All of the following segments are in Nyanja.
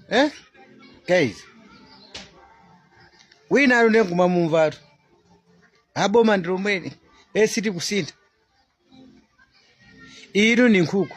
eh? guys wina ali nde nkumamumvatu a boma ndi lomweli sitikusintha inu ni nkhuku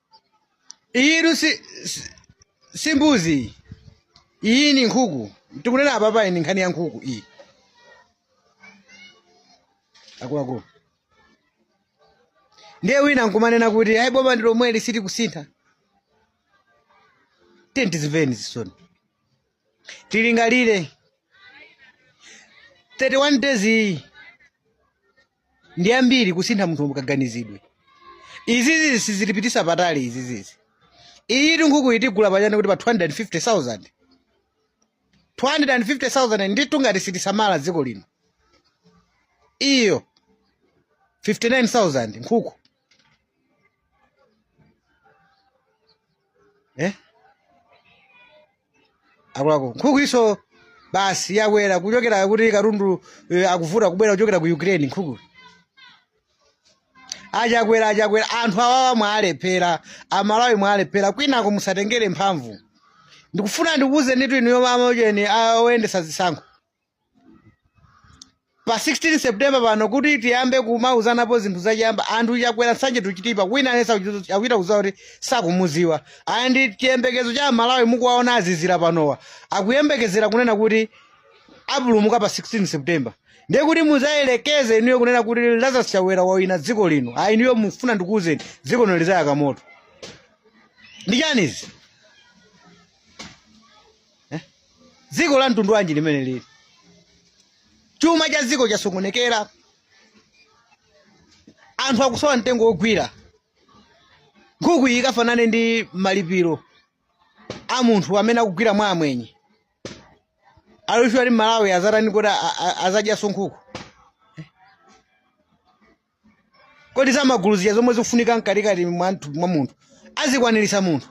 iyitu si, si, si mbuzi iyi. iyi ni nkhuku tikunena apapa iyi ni nkhani ya nkhuku iyi akuluakulu ndiye wina nkumanena kuti ayi boma ndi lomweli sitikusintha tiyeni tizimvereni zisoni tilingalire 31 days iyi ndi yambiri kusintha munthu mukaganizidwe izizi sizitipitisa patali izizizi iyitu nkhukuyi tigula pachani kuti pa 250000 250000 nditu ngati sitisamala dziko lino iyo 59000 nkhuku eh? akuluakulu nkhukuyiso basi yakwera kuchokera kuti katundu eh, akuvuta kubwera kuchokera ku ukraine nkhuku achakwera achakwera anthu awawa mwaalephera amalawi mwaalephera kwinako musatengere mphamvu ndikufuna ndikuwuzenitu inuyo ma amaujeni oyendesa zisankho pa 16 september pano kuti tiyambe kumauzanapo zinthu zachiyamba anthu chakwera nsanje to chitipa wina aliyense akuchita kuziwa kuti sakumuziwa and chiyembekezo cha amalawi mukuwaona azizira panowa akuyembekezera kunena kuti apulumuka pa 16 september ndiye kuti muzayelekeze inuyo kunena kuti lazarus chakwera wawina dziko lino ayi inuyo mfuna ndikuuzeni dziko lino lizayaka moto ndi chani izi eh? dziko la mtundu wanji limene lili chuma cha dziko chasokonekera anthu akusowa mtengo wogwira nkhuku iyi ikafanane ndi malipiro a munthu amene akugwira mwa amwenye are you sure kuti mmalawi azatani kuti a- a- azadyaso nkhuku kodi za magulu zija zomwe zikufunika mkatikati mwa mtu- mwa munthu azikwaniritsa munthu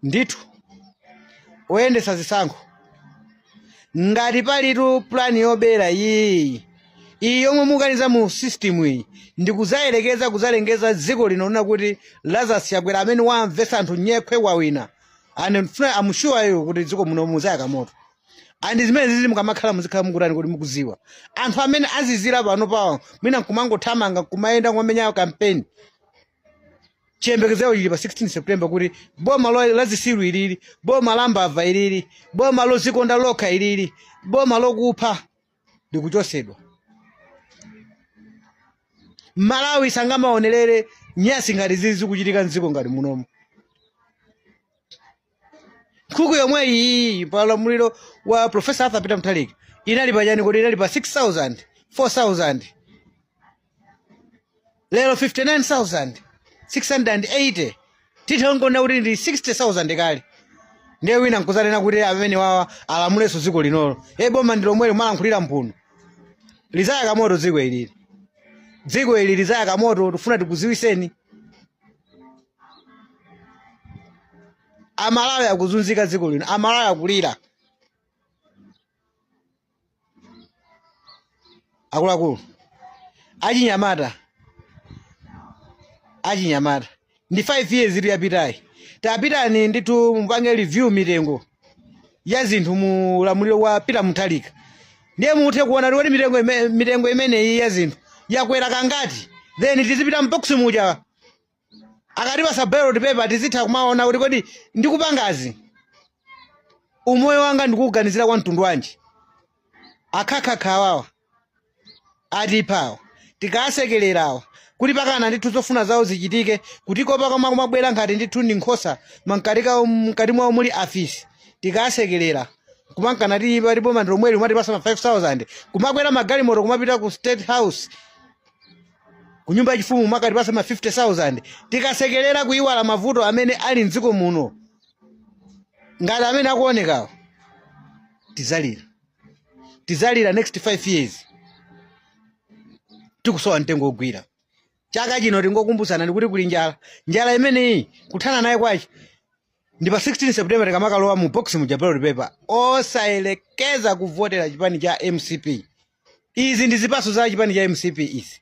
ndithu oyendetsa zisankho ngati palitu pulani yobera iyi iyi yomwe mukaniza mu system iyi ndikuzayerekeza kuzalengeza dziko lino kunena kuti lazarus chakwera amene wamvetsa anthu nyekhwe wawina and mfuna assure you kuti dziko muno muzayaka moto andi zimene zizi mukamakhala muzikhala mukutani kuti mukuziwa anthu amene azizira pano pawo mwina nkumangothamanga kumayenda kumenya kampeni chiyembekezo chili pa 16 september kuti boma lo- la zisilu ilili boma la mbava ilili boma lozikonda lokha ilili boma lokupha likuchosedwa malawi sangamaonerere nyasi ngati zizi kuchitika mdziko ngati munomo nkhuku yomwe iyi pa ulamuliro wa profesa arthur peter mutharika inali pa chani kodi inali pa 6000 4000 lero 59680 titha kungoti ndi 60000 kale ndiye wina nkuzanena kuti amene wawa alamulenso dziko linolo e boma ndi lomweli molankhulira mphuno lizayaka moto dziko ilili dziko ili lizayaka moto tifuna tikuziwiseni amalawi akuzunzika dziko lino amalawi akulira akuluakulu achinyamata achinyamata ndi 5 years itu yapitayi tapitani ndithu mupange review mitengo ya zinthu mu ulamuliro wa Peter Mutharika ndiye muthe kuona kuti mitengo ime- mitengo imeneyi ya zinthu yakwera kangati then tizipita mboksi muja akatipasa ballot paper tizitha kumaona kuti kodi ndikupangazi umoyo wanga ndikuuganizira kwa mtundu wanji akhakhakha awawa atipha awa tikasekelera awa kuti pakana ndithu zofuna zawo zichitike kuti kopa kama kumabwera ngati ndithu ndi nkhosa mankatika mkati mwawo muli afisi tikasekelera kumangonena kuti pati boma ndilomweli umatipasa ma 5000 kumakwera magalimoto kumapita ku state house ku nyumba yachifumu umakatipasa ma 50000 tikasekelera kuiwala mavuto amene ali mdziko muno ngati amene akuonekawo tizalira tizalira next 5 years tikusowa mtengo ogwira chaka chino tingokumbutsana ndikuti kuli njala njala imeneyi kuthana naye kwache ndi pa 16 september tikamakalowa mu box muja ballot paper osayelekeza kuvotera chipani cha mcp izi ndi zipaso za chipani cha mcp izi